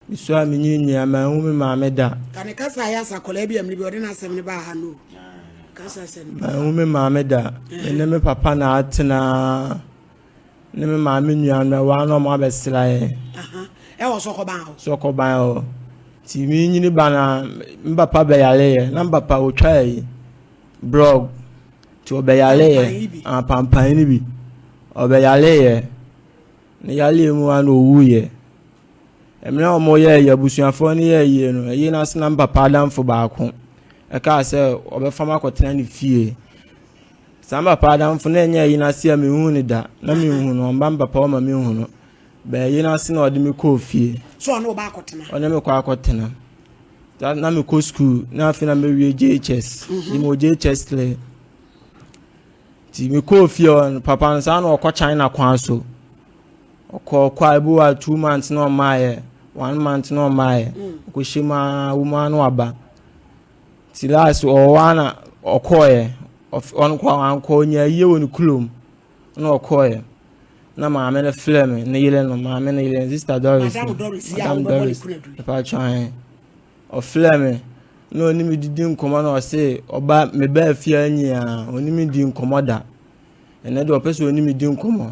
Mesu a menyin nyin a manhu me maame da. Ka ne kasa a ɛyɛ asa akwadaa bi a mmere bi ɔde n'asɛm no baa ha no o. Kasa asɛm. Manhu me maame da. Me ne me papa na atena ne me maame nua no ɛwɔ ano ɔmo abɛsra yɛ. Ɛwɔ sɔkɔban hɔ. Sɔkɔban hɔ. Ti mi nyini ba na me papa bɛyare yɛ na me papa otwa yi blog ti ɔbɛyare yɛ apampan ni bi ɔbɛyare yɛ ne yare mu a na owu yɛ. Mmerɛ a wɔyɛɛ yɛn abusuafoɔ no yɛɛ yie no, ɛyere no ase na me papa adamfo baako ɛkaa sɛ ɔbɛfa me akɔtena ne fie. Saa me papa adamfo na ɛnyɛ ɛyere no ase a menhuu no da, na menhu no, ɔmma me papa hɔ ma menhu no. Bɛɛ ɛyere no ase na ɔde me kɔɔ fie. So ɔne ɔba akɔtena? Ɔne me kɔ akɔtena. Na, na mekɔ sukuu, na afei na mewie JHS. Mhm. Mewɔ JHS three. Nti mekɔɔ fie hɔ no, papa no saa na ɔkɔ China kwan so. Ɔkɔɔ kwae bi wa two months na ɔmaayɛ one month na ɔmaayɛ ɔkɔhyɛ mu ara wo mu ara na waba ti last ɔwɔ hɔ na ɔkɔɔyɛ ɔnkɔ ankɔ ɔnya ayie wɔ ne kulom na ɔkɔɔyɛ na maame no frɛ me ne yere no maame no yere sista doris madam doris mpakyɛ ahe ɔfrɛ me na ɔne me didi nkɔmmɔ na ɔse ɔba mebaa fie anyi a ɔne me di nkɔmmɔ da ɛnɛ deɛ ɔpɛ sɛ ɔne me di nkɔmmɔ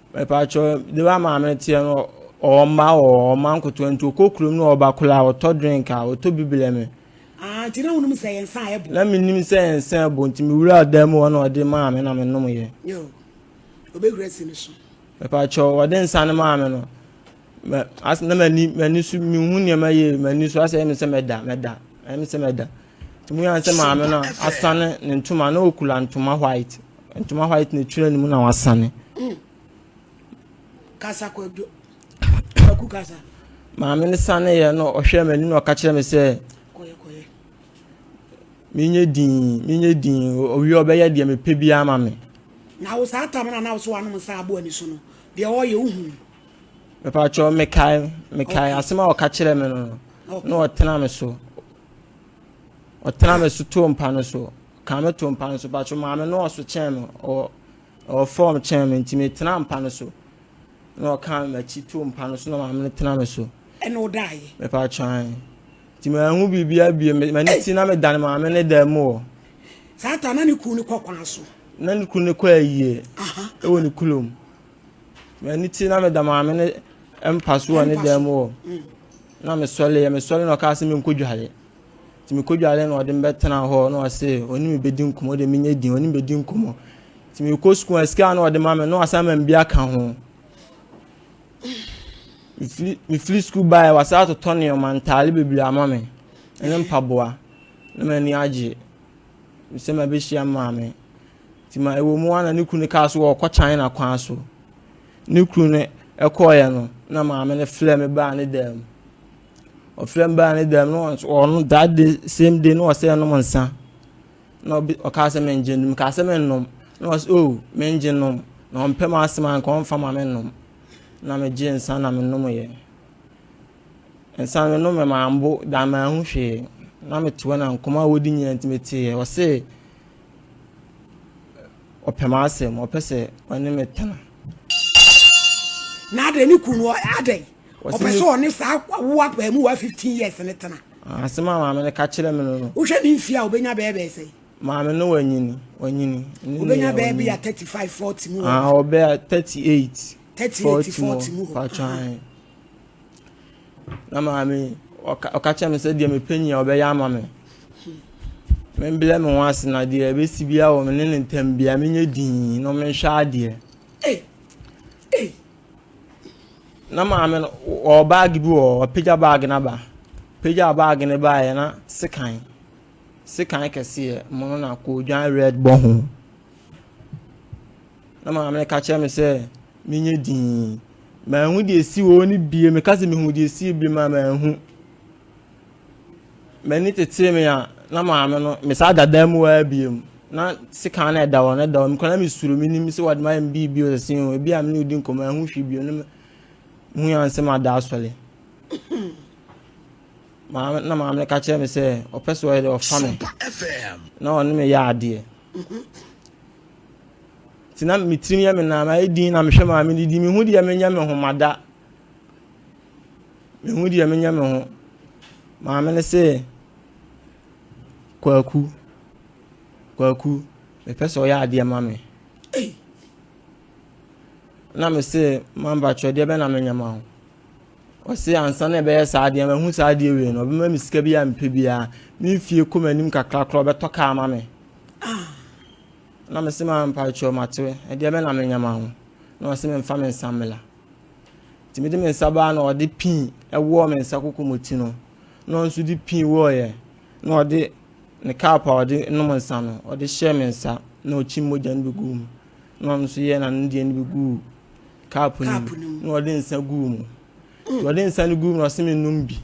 Mepatwɔ de ba maame teɛ no ɔwɔ mma ɔwɔ ɔwɔ mma nkotoa nti ɔkɔ kurom no ɔba kola a ɔtɔ drink a ɔtɔ bibile me. Ah nti na wonim sɛ yɛn nsa a ɛbo. Na menim sɛ yɛn nsa a ɛbo nti mewura dan mu hɔ na ɔde maa me na menom yɛ. Yo, ɔbɛhura si no so. Mepatwɔ ɔde nsa no maa me no mɛ as na m'ani m'ani so mehu nneɛma yie m'ani so asɛ ɛyɛ me sɛ mɛda mɛda ɛyɛ me sɛ mɛda. Emu yɛ sɛ maame no asane ne ntoma na okula ntoma white. Ntoma white na etwere ne mu na wasane. Mm. Kasa kwadwo. Kwaku kasa. Maame no sane yɛ no ɔhwɛ m'ani na ɔka kyerɛ me sɛ. Kɔyɛ kɔyɛ. Menyɛ din menyɛ din owie ɔbɛyɛ deɛ mepɛ bi ama me. Na wo saa tam na na wo so wanom nsa abo ani so no deɛ ɔyɛ wohu. Mepatwɛ mekae mekae asɛm a ɔka kyerɛ me no na ɔtena me so. Ɔtena me so too mpa no so. Ka me too mpa no so. Patro maame no ɔso kyɛn me. Ɔ ɔwɔ fam kyɛn me nti metena mpa no so. Na ɔka me m'akyi too mpa no so na maame no tena me so. Ɛna ɔdaeɛ. Mepatro ae. Nti mahu biribiara bie. M'ani ti na medane maame ne dan mu wɔ. Saa ta na ne kunu no kɔ kwan so. Na ne kunu no kɔ ayie. Ɛwɔ ne kulom. Ɛno ti na meda maame no mpa so wɔ ne dan mu hɔ. Na mesɔreeɛ, mesɔre na ɔkaa sɛ menkɔdware. Nti mekɔdware na ɔde me bɛtena hɔ na ɔse ɔne me bɛdi nkɔmmɔ, ɔde menyɛ din, ɔne me bɛdi nkɔmmɔ. Nti mekɔ sukuu a sika a na ɔde ma me na wasan ma me bi aka ho. Mefiri mefiri sukuu baeɛ wasan atotɔ nneɛma ntaare bebree ama me ne mpaboa na m'ani agye sɛ mabɛhyia maame. Nti ma ɛwɔ mu ara na ne kunu no kaa sɛ ɔrekɔ China kwan so. Ne kunu no kɔeɛ no, na maame no frɛ me baa ne dan mu. Ɔfrɛ me baa ne dan mu na ɔno that day same day na ɔsɛ ɛnom nsa. Na ɔkaa sɛ mengye nom, kaa sɛ mennom. Na ɔsɛ oh mengye nom. Na ɔmpɛ m'asɛm anka ɔmfa ma mennom. Na megye nsa na menom yɛ. Nsa no menom mambo da manhu hwee. Na mete hɔ na nkɔmmɔ a wɔdi nyinaa nti meteeɛ. Ɔse Ɔpɛ m'asɛm, ɔpɛ sɛ ɔne me tena. Na adɛn ne kunu no adɛn? Ɔpɛ sɛ ɔne saa wo abaamuwa 15 years ne tena. Ah, asɛm a maame no ka kyerɛ me no no. Wohwɛ ne mfie a obenya bɛyɛ bɛyɛ sɛn? Maame no wanyini, wanyini. Obenya bɛyɛ bi a 35, 40 mu hɔ. Ah, ɔbɛyɛ 38, 38, 40 mu hɔ. Patwɛn. Na maame yi, ɔka ɔka kyerɛɛ me sɛ deɛ mepɛ nyia ɔbɛyɛ ama me. Membrɛ me ho ase na deɛ ɛbɛsi biara wɔ me ne ne ntam biara menyɛ dinn na ɔmenhwɛ adeɛ. Na maame no, ɔwɔ baage bi wɔ hɔ, wapagya baage no aba. Pagyaa baage no baeɛ na sekan, sekan kɛseɛ mono na koodwan red bɔ ho. Na maame no ka kyerɛ me sɛ menyɛ dinn. Manhu deɛ ɛsi hɔ no bie. Meka sɛ mehu deɛ ɛsi bie ma manhu. M'ani tetee me a na maame no mesaa da dan mu ara biem. Na sekan na ɛda hɔ na ɛda hɔ. Mekɔ na mesuro menim sɛ wɔde mayɛ me biribi wɔ sɛ o ebi a me ne odi nkɔmmɔ ɛho hwi bio ne mehu yɛn nsɛm ada asɔre. Maame na maame no ka kyerɛ me sɛ ɔpɛ sɛ ɔyɛ dɛ ɔfa me na ɔne me yɛ adeɛ. Nti na me tirim yɛ me na mayɛ din na mehwɛ maa me didi mehu deɛ menyɛ me ho mada mehu deɛ menyɛ me ho maame no sɛ kwaku kwaku mepɛ sɛ ɔyɛ adeɛ ma me na me sɛ mambakyerɛ deɛ bɛ na menyɛ ma ho Ɔse ansa na ɛbɛyɛ saa adeɛ no mahu saa adeɛ wei no ɔbɛma me sika bi a mepɛ biara me mfie kɔ m'anim kakra koraa ɔbɛtɔ kaa ma me ah. na mese ma mpakyɛw matewe ɛdeɛ bɛ na menyɛ ma ho na ɔse memfa me nsa mmela nti mede me nsa baa na ɔde pii ɛwɔɔ me nsa kokomoti no na ɔno nso de pii wɔɔyɛ na ɔde ne kaap a ɔde nom nsa no ɔde hyɛɛ me nsa na ɔkyi mogya no bɛgu mu na ɔno nso yɛɛ n'ano deɛ no bi guu cup no mu na ɔde nsa guu mu nti ɔde nsa no guu mu na ɔse me nom bi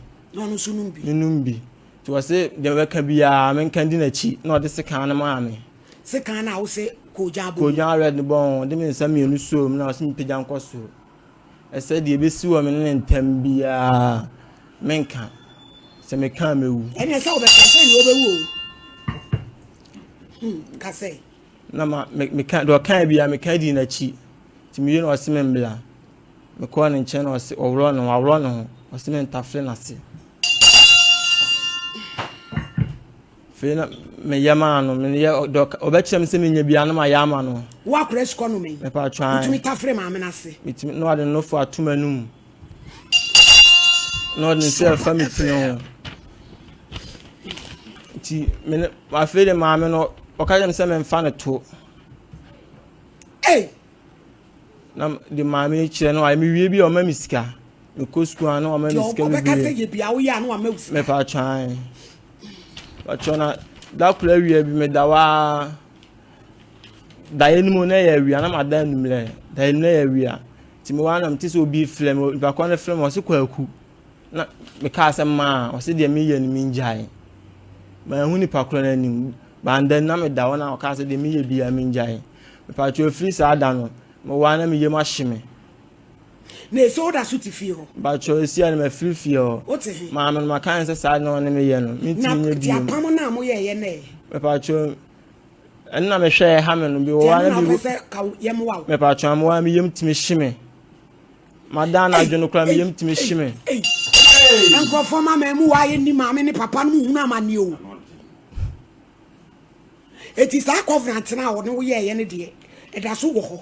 me nom bi nti ɔse deɛ ɔbɛka biara menka di n'akyi na ɔde sekan no maa me sekan no a wo se kogya abɔ kogya red no bɔ ho ɔde me nsa mmienu suo mu na ɔse mepagya nkɔ soro ɛsɛ deɛ ɛbɛsi wɔ me ne ne ntam biara menka sɛ meka mɛwu ɛne sɛ wobɛka sɛ ne wobɛwu o hmm, ka sɛ Na ma me meka deɛ ɔkae biara meka dii n'akyi nti mewie na ɔse me mbla mekɔɔ ne nkyɛn na ɔse ɔworɔ ne ho aworɔ ne ho ɔse me ntafere n'ase fei na meyɛ maa no meyɛ deɛ ɔbɛkyerɛ me sɛ menyɛ biara na mayɛ ama no woakora sukɔ no me mepatwa wotumi tafere maame no ase metumi na ɔde nofo atom anum na ɔde ne nsa ɛfa me pini ho nti me ne afei de maame no ɔka kyerɛ me sɛ memfa no to na de maame no kyerɛ no ayɛ mewie bi a ɔma me sika mekɔ sukuu a na ɔma me sika bebree mepa atwan patwɔ na da koro awia bi meda waa Daeɛ no mu na ɛyɛ awia na ma da anummerɛ. Daeɛ no mu na ɛyɛ awia. Nti mewɔ anam te sɛ obi frɛ me. Nipa kɔn no frɛ me ɔse kwaku. Na mekaa sɛ maa ɔse deɛ meyɛ no mengyae. Manhu nipa korɔ no anim. Banda no na meda hɔ na ɔkaa sɛ deɛ meyɛ biara mengyae. Mepatwo ɛfiri saa da no mewɔ a na me yam ahye me. Na ese woda so te fie hɔ. Mpakyɛw esia no mafiri fie hɔ. Wote he? Maame no maka no sɛ saa ade na ɔne me yɛ no mentumi nyɛ bio. Na te apam no a moyɛeɛ nɛ? Mpakyɛw ɛno na mehwɛ ɛha me no bi wɔ hɔ. Ɛno na ɔpɛ sɛ ka yam wa wo. Mpakyɛw amoa me yam tumi hye me. Madan anadwo no koraa me yam tumi hye me. Nkurɔfoɔ ma mɛ mu waayɛ ni maame ne papa no mu hunu amanneɛ o. Eti saa covenant no a ɔne wo yɛeɛ no deɛ ɛda so wɔ hɔ.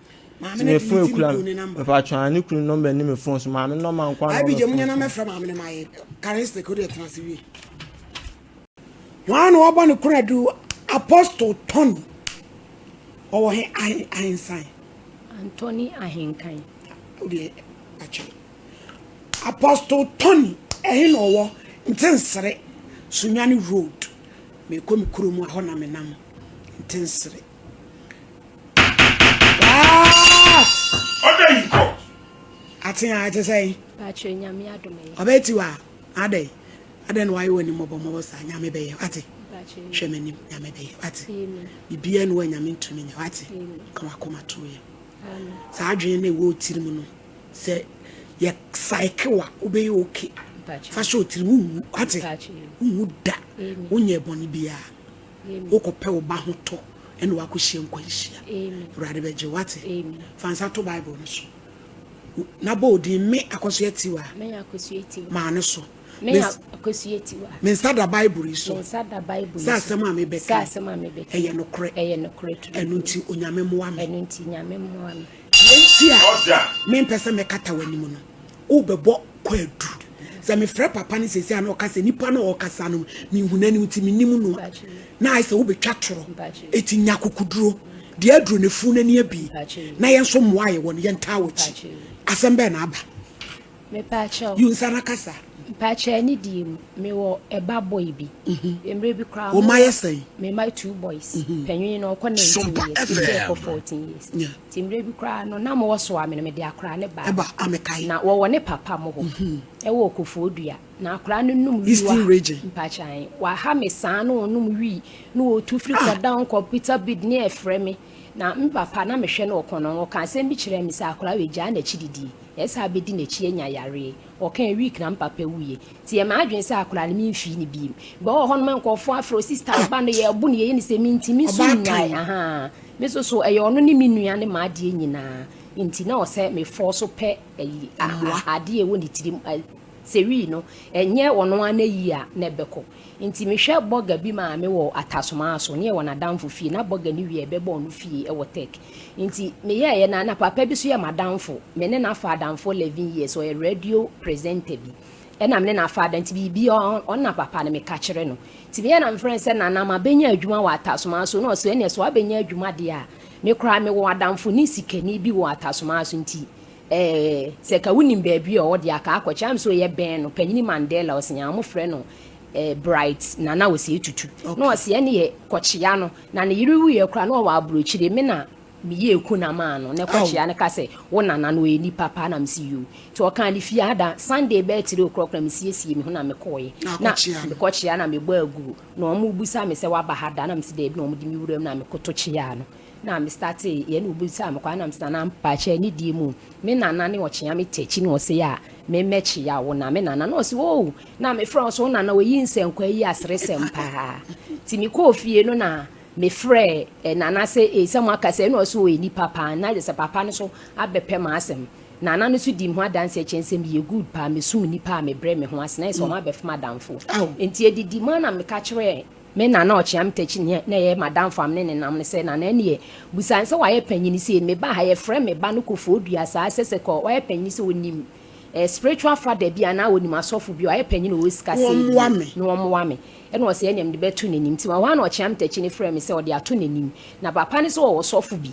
Maame no delete ne kunu ne number. Ɛfa atwa ne kunu number ne me phone so maame no ma nkwa no. Abi gye munya na mɛfrɛ maame no ma yɛ karistik o de tena se wie. Wɔn na wɔbɔ ne kura du Apostle Tony ɔwɔ he ahen ahensan. Antony ahenkan. O de akyɛ. Apostle Tony ɛhe na ɔwɔ ntensere Sunyani road mekɔ me kuro mu ahɔ na menam ntensere. ɔdɛ yi kɔ. ate a ɛte sɛ yi. baakyerɛ nyame adom yi. ɔbɛyɛ ti wa adɛ yi adɛ na wayɛ w'anim mɔbɔ mɔbɔ saa nyame bɛyɛ wate hwɛ m'anim nyame bɛyɛ wate biribiara nu a nyame ntumi nyɛ wate ka wakoma to yɛ saa adwene na ɛwɔ tiri mu no sɛ yɛ saeke wa wobɛyɛ oke fa hyɛ otiri mu wate wowu da wonyɛ bɔne biara Wokɔpɛ wo ba ho tɔ ɛna wakɔhyia nkwanhyia. Awurade bɛgye wo wate. Fa nsa to Bible no so na bɔ odin me akɔsoɛ tiwa. Maa no so. Me nsa da Bible yi so sɛ asɛm a mebɛka ɛyɛ nokorɛ. Ɛno nti Onyame mmoa me. Nti a mempɛ sɛ mɛkata w'anim no. Wobɛbɔ kwaadu. Sɛ mefrɛ papa no seesei a na ɔka sɛ nipa no a ɔrekasa no menhu n'anim nti mennim no a, na ayɛ sɛ wobɛtwa torɔ. Enti nya akokoduro. Deɛ aduro no funu n'ani abi na yɛn nso mmoa a yɛwɔ no yɛntaa w'akyi. Asɛm bɛn na aba? Mepakyɛw. Yi nsa na kasa. Mepakyɛw anidie mu. Mewɔ ɛba boy bi. Mmerɛ bi koraa. Wɔn mma yɛ sɛn? Me mma two boys. Panyin no ɔkɔ 19 years. Ebi ɛkɔ 14 years. Nti mmerɛ bi koraa no, na mowɔ soa me no, mede akoraa no baa Ɛba a mekae. na wɔwɔ ne papa mo hɔ wɔ Okofoɔdua, na akoraa no nom wii Eastern waha, region. mpakyan, waha me saa na ɔnom wii, na ɔtu firi Ah! kɔdown kɔ Peter Bid ne ɛfrɛ me, na me papa na mehwɛ no ɔkɔnɔn, ɔkaa asɛm bi kyerɛɛ me sɛ akoraa wei gyaa n'akyididie, ɛyɛ sɛ abɛdi n'akyi anya yareɛ, Ɔkãe wiek na m'papa wuie. Ntsi yɛ m'adwen sɛ akora no mennhwii no bio. Bɔ wɔ hɔ no ma nkorɔfoɔ afrɛ wo sista ɔba no yɛɛbo no yɛyɛ no sɛ me ntsi me so nnyae ahaa. Me so so ɛyɛ ɔno ne me nua ne m'adeɛ nyinaa ntsi na ɔsɛ me fɔɔ so pɛ ayi a a adeɛ ɛwɔ ne tirim a sɛ wii no ɛnyɛ ɔno ara n'ayie a na ɛbɛkɔ. Ntsi mehwɛ burger bi maame wɔ Atasoma so nye hɔn adamfo fie na burger no wiae bɛbɔɔ no fie wɔ Turk ntsi meyɛɛyɛ na na papa bi so yɛ m'adamfo me ne no afa adamfo eleven years ɔyɛ radio presenter bi na me ne no afa ada ntsi biribi ɔno na papa no meka kyerɛ no ntsi meyɛ na mefrɛ no sɛ Nana mabenya adwuma wɔ Atasoma so na ɔse ɛneɛ sɛ wabenya adwuma deɛ a me koraa mewɔ adamfo ne sikani bi wɔ Atasoma so ntsi Ɛɛ, sɛ nka wonim baabi a ɔwɔ deɛ aka akɔkyɛ. Am sɛ ɔyɛ bɛn no, Panyini Mandela ɔse nyaa wɔfrɛ no ɛɛ Bright Nana Osei Tutu. Na Okay. ɔse ɛneɛ kɔkyea no. Na ne yere wuiɛ koraa na ɔwɔ aburokyire. Me na meyɛɛ kuna maa no. Na Aw. kɔkyea no ka sɛ wo nana no ɔyɛ nipa paa na mese yoo. Nti ɔkaa ne fie ada. Sunday bɛyɛ tiri okrɔk na mesiesie me ho na mekɔɔɛ. Na Na akɔkyea no. mekɔkyea na mebɔ aguro. Na wɔbusa me sɛ waba ha da? Na mese daabi na wɔde me wuram na mekoto kyeaa no. na me startee yɛ na obisaa me kwan na mese nana mpakyɛ ne deɛ mu me nana ne ɔkyea me tɛkyi na ɔse a me mɛ kyea wo na me nana na ɔse oo na me frɛ ɔse wo nana oyi nsɛnkwa yi aseresɛm paa ti me kɔɔ fie no na me frɛ eh, nana se ee sɛ mo aka sɛ na ɔse oyi nipa paa na sɛ papa no so abɛpɛ ma asɛm nana no so di me ho adanse ɛkyɛn sɛ meyɛ good paa mesum nipa a mebrɛ me ho ase na yɛ sɛ ɔma bɛfom adamfo nti ɛdidi mu a na meka kyerɛ Me na na ɔkyea me takyi ne na ɛyɛ m'adamfo a me ne no nam no sɛ, Nana ɛneɛ, busa no sɛ wayɛ panyin sei, me ba ha, yɛfrɛ me ba no Kofoɔ Dua saa, sɛ sɛ kɔ, wayɛ panyin sɛ ɔnim eh, spiritual father bi anaa ɔnim asɔfo bi, wayɛ panyin ɔwɔ sika sei bi na ɔmmoa me. Ɛna ɔse ɛneɛ mede bɛto n'anim. Nti ɛhɔ ara na ɔkyea me takyi no frɛɛ me sɛ ɔde ato n'anim. Na papa no nso ɔwɔ ɔsɔfo bi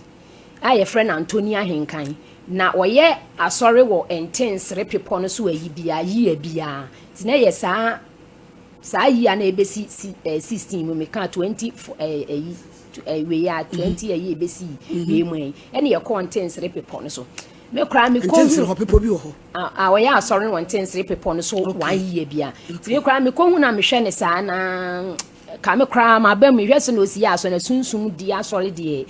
a yɛfrɛ no Antoni Ahenkan. Na ɔyɛ asɔre wɔ Ntensere bepɔ no so ayi biara, year biara. Nti na ɛyɛ saa. Saa year na ebesi si ɛɛ sixteen mu mi kaa twenty fo ɛɛ ɛyi tw ɛɛ wei a twenty ɛyi ebesi wei mu ɛyi ɛna yɛ kɔɔ ntensere pepɔ no so me koraa me kɔ Ntensere hu hɔ pepɔ bi wɔ hɔ. a a ɔyɛ asɔre no wɔ ntensere pepɔ no so Okay. one year bia nti me koraa me kɔ hu na me hwɛ ne saa na ka me koraa ma ba mu hwɛ sɛ na osi yɛ asɔre na sunsum di asɔre deɛ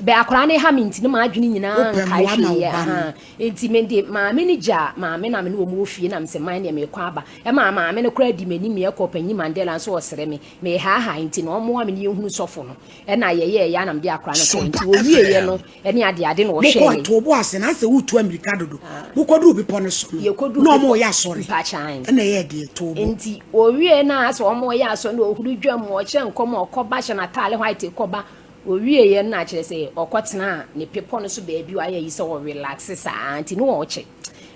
Bɛ akwadaa no ha me nti ne m'adwene nyinaa nkaeɛ hwee aha nti me de maame no gyaa maame na me ne wɔn wɔ fie na me sɛ man deɛ mekɔ aba ɛmaa maame no koraa di m'anim yɛkɔ panyin Mandela nso ɔsrɛ me mehaahae nti na ɔmmoa me ne yɛhunu sɔfo no ɛna yɛyɛɛ yɛ na mede akwadaa no kɔɔ nti wɔwieeɛ no ɛne adeade na ɔhwɛɛ yɛn to bo ase na sɛ wotu amirika dodo ah. mokɔduru bepɔ no so no na ɔmo yɛ asɔre ɛna ɛyɛ deɛ to bo nti wɔwieeɛ no a sɛ ɔmo yɛ asɔre na ɔhuru dwam ɔkyerɛ nkɔm ɔkɔba hyɛ n'ataale white kɔba Ɔwieeɛ no na kyerɛ sɛ ɔkɔtenaa ne bepɔ no so baabi wayɛ ayi sɛ ɔrelaxe saa nti ne ɔɔkyɛ.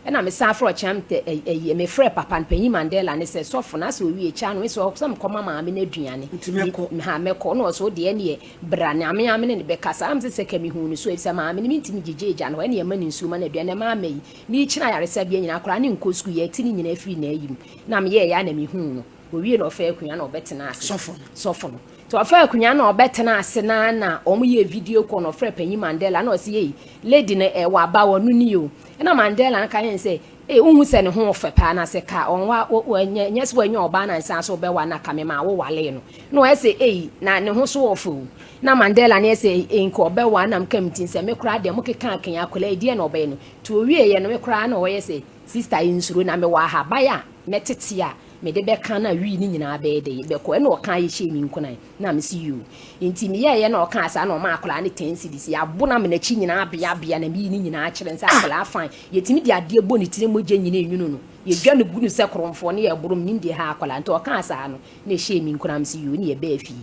Ɛna mesan frɛ ɔkyena ayi mefrɛ papa no panyin Mandela no sɛ sɔfo no asɛ ɔwie kyaa no ɔsɛ ɔsɛ mekɔma maame no aduane. Nti mɛkɔ. Ha mɛkɔ na ɔsɛ wodeɛ neɛ bra na me ara me ne no bɛkasa na mesɛ sɛ ka mehuu no so ɛfisɛ maame no mentumi gyegye agya no hɔ ɛne ɛma no nsuo ma no aduane ɛma ama yi merekyini ayaresabea nyinaa koraa ne nkɔ sukuu yɛte ne nyinaa firi n'ayi mu na meyɛɛyɛ a na mehuu no. Ɔwie na ɔfaa akonnwa na ɔbɛtenaa ase. Sɔfo no. Sɔfo no. Nti ɔfaa akunya na ɔbɛtena ase na na ɔmo yɛ video call na ɔfrɛ panyin Mandela na ɔse ei lady no eh waba o ɔno nie o ɛna Mandela no ka kyerɛ no sɛ ei wo hu sɛ ne ho ɔfɛ paa na sɛ ka ɔnwa ɛnyɛ ɛnyɛ sɛ wanya ɔbaa na nsan so ɔbɛwa na ka memaa wo walee no na ɔyɛ sɛ ei na ne ho so ɔfɛ o na Mandela no yɛ sɛ ei nka ɔbɛwa na mka me tin sɛ me koraa deɛ mo keka akanya akwadaa yi deɛ na ɔbɛyɛ no nti ɔwie yɛ no me koraa na ɔyɛ sɛ sister nsuro na mewɔ ahaban a mɛtete a mede bɛka no a wii ne nyinaa bɛyɛ dɛ bɛkɔ ɛna ɔka ayɛ hyɛɛ me nkuran na me se yoo nti me yɛɛyɛ na ɔkaa saa na ɔmaa akwadaa no ten cedis yɛabo na me nakyi nyinaa bea bea na meyi ne nyinaa kyerɛ no sɛ akwadaa fine yɛtumi de adeɛ bɔ ne tire mogya nyina enwunu no yɛdwa no gu no sɛ koromfoɔ na yɛboro menim deɛ ɛha akwadaa nti ɔkaa saa no na ɛhyɛɛ me nkuran me se yoo na yɛbaa fie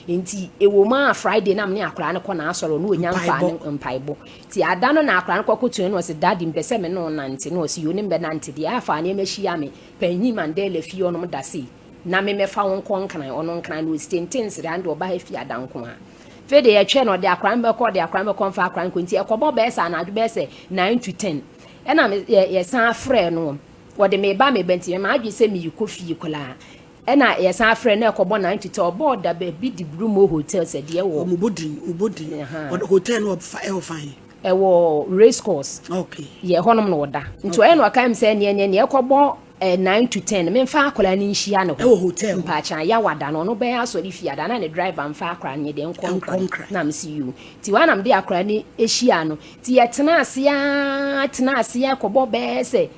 nti ɛwɔ mu a Friday na me ne akwadaa no kɔ n'asɔre ɔno ɔnya mfaa no mpaebɔ nti ada no na akwadaa no kɔ akɔtua no na ɔse daddy mpɛ sɛ me ne wo nante na ɔse yoo ne mbɛnante deɛ afaa nneɛma hyia me Panyin Mandela fie hɔ nom da sei na me mɛfa wo nkɔ Nkran, ɔno Nkran no ɔsi tenten nsrɛ ano deɛ ɔba ha fie ha da nko ara. Afei deɛ yɛtwɛn no ɔde akora no bɛkɔ, ɔde akora no bɛkɔ, ɔmfa akora no nkɔ nti ɛkɔbɔ bɛyɛ sɛ anadwo bɛyɛ sɛ nine to ten ɛna me yɛ yɛsan frɛɛ no ɔde meba meba nti ɛma adwene sɛ merekɔ fie koraa ɛna yɛsan frɛɛ no na ɛkɔbɔ nine to ten ɔbɔɔ da baabi de Brummo Hotel sɛ deɛ wɔ. Wɔbɔ din, wɔbɔ din, ɔde hotel no wɔ fa ɛwɔ fa he? Ɛwɔ race course. Okay. Yɛ ɛhɔ nom na ɔda. Nti ɔyɛ na ɔkae mi sɛ neɛ neɛ neɛ ɛkɔ bɔ eh, nine to ten mi nfa akwadaa no nhyia ne hɔ. Ɛwɔ hotel. Mpaakyan ya wada no ɔno bɛyɛ asɔre fie ada na ne driver nfa akwadaa no yɛ deɛ nkɔ nkran. Nkɔ nkran. Na mi si yiw. Ti wɔn na mi de akwadaa no ehyia no. Ti yɛ tena ase aa tena ase ɛkɔ bɔ bɛɛ sɛ.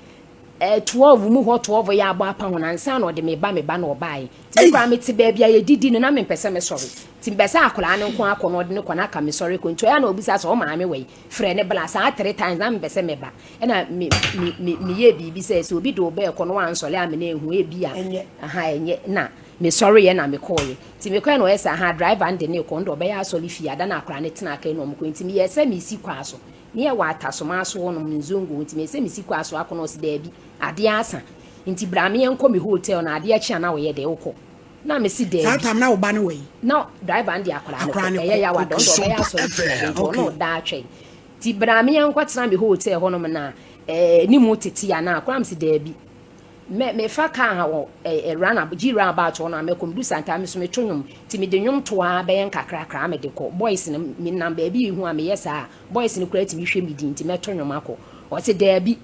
Twelve mu hɔ twelve yɛ abɔ apa ho no ansa na ɔde me ba me ba na ɔbaeɛ nti me koraa mete baabi a yɛdidi no na mempɛ sɛ mesɔre nti mepɛ sɛ akwadaa no nko akɔ na ɔde no kɔ na aka mesɔre kɔ nti ɔyɛ a na ɔbisa sɛ ɔmaame wɔ yi frɛ ne bla saa three times na mempɛ sɛ mɛba ɛna me me me meyɛɛ biribi sɛ sɛ obi de wo bɛɛkɔ na wansɔre a me na ɛhu ebi a aha ɛnyɛ na mesɔreeɛ na mekɔeɛ nti mekɔɛ na ɔyɛ sɛ aha driver no de ne kɔ no de ɔbɛyɛ asɔre fie ada na akwadaa no tena aka ɛna ɔmokɔ nti meyɛɛ sɛ mesi kwaa so Neɛ wɔ atasoma asoɔ nom no nzongo nti mese mesi kɔ asoa kɔ na ɔse daabi adeɛ asa nti bra meɛ nkɔ me hotel na adeɛ kye a na ɔyɛ dɛ wokɔ na mese daabi. Saa time na wo ba no wɔ yi? Na driver no de akwadaa no kɔ ɛyɛ yaw a dɔn dɔn ɔbɛyɛ asɔre tia de nti ɔne ɔda atwɛn nti bra meɛ nkɔ tena me hotel hɔ nom na ɛɛ ne mu tete a na koraa mese daabi Me mefa car ha wɔ eh eh run ab G run about hɔ no a mɛ kɔ me du santa a me so me to nwom nti me de nwom to aa bɛyɛ nkakrakra a me de kɔ boys no me nam baabi yi ho a me yɛ saa a boys no koraa tumi hwɛ me din nti mɛ to nwom akɔ ɔse daabi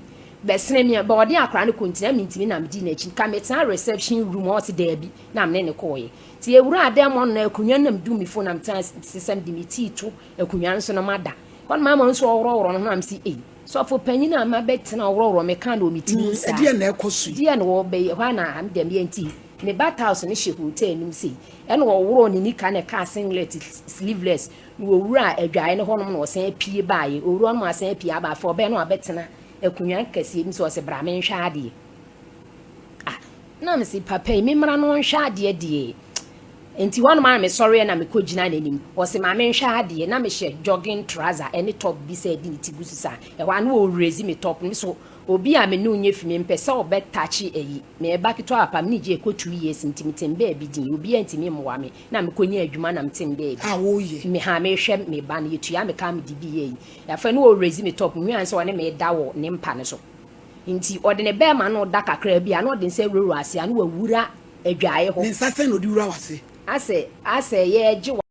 bɛ sene me bɛ ɔde akora no kɔ nti na me ntumi na me di na kyi ka me tena reception room a ɔse daabi na me ne no kɔ yɛ nti yɛ wura a dɛm ɔno na akunwa no na me du me fo na me tena se sɛ me de me tii to akunwa no so na ma da hɔ no ma ma nso ɔworɔ worɔ no ho na me se ei. Sɔfo panyin a mabɛtena ɔworɔworɔ me kan wɔ me ti mu saa. Ɛdeɛn na ɛkɔ so yi? Deɛn na wɔbɛyɛ hɔ ana me dɛm yɛ nti? Me ba Taos no hyɛ hotel anim sei. Ɛna ɔworɔɔ ne nika na ɛkaa singlet, sleeveless, na ɔwuraa adwaeɛ no hɔnom na ɔsan apue baeɛ. Ɔwura hɔnom asan apue aba. Afei ɔbɛn no abɛtena akonnwa kɛseɛ bi mu sɛ ɔse bra menhwɛ adeɛ. Ah, na mese, papa yi, memmra no ɔnhwɛ adeɛ deɛ. Nti hɔnom ara mesɔreɛ na mekɔgyina n'anim. Ɔse, ma menhwɛ adeɛ. Na mehyɛ jogging trouser ɛne top bi sɛ de ne ti gu so saa. Ɛhɔ ara na ɔrezi me top no. Me so, obi a me ne wo nyɛ fi, mempɛ sɛ ɔbɛ touche ayi. Meyɛ ba ketewa papa, me ne Jay kɔ two years nti metem baabi din. Obiara ntumi mmoa me. Na mekɔnya adwuma na metem baabi. A woyɛ? Me ha, mehwɛ me ba no. Yɛtua me car mede bi yɛ ayi. Afei na ɔrezi me top. Mehuaa no sɛ ɔne me reda wɔ ne mpa no so. Enti ɔde ne bɛɛma no da kakraa bi a, na ɔde nsa wura wura ase a, na wawura adwaeɛ hɔ. Ne nsa sɛn na ɔde wura w'ase? Asɛ, asɛ, yɛɛgye wo.